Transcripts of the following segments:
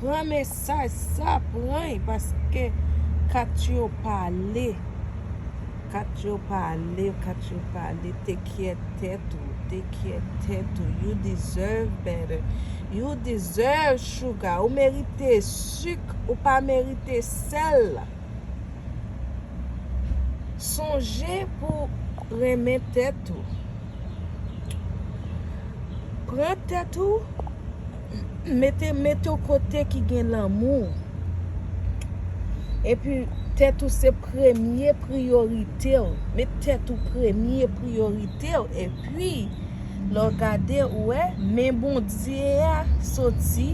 Pran mesaj sa pran y paske kat yo pale kat yo pale kat yo pale te kyè tèt ou te kyè tèt ou you deserve better you deserve sugar ou merite suk ou pa merite sèl sonje pou renmen tèt ou. Pran tèt ou, mete w kote ki gen lanmou. E pi tèt ou se premye priyorite w. Met tèt ou premye priyorite w. E pi, lè w gade, ou wè, men Bondye a soti,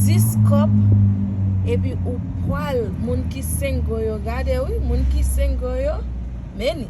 dis kòp, e pi ou pwal, moun ki senggo yo, gade wi, moun ki senggo yo, men ni.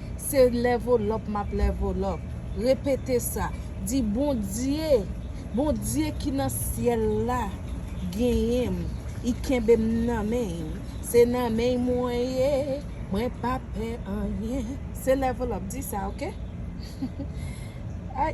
Se level up map level up. Repete sa. Di Bondye, Bondye ki nan syèl la genyen m, I kenbe m nan men I. Se nan men I mwen ye, mwen pa pè anyen. Se level up. Di sa ok. Ay.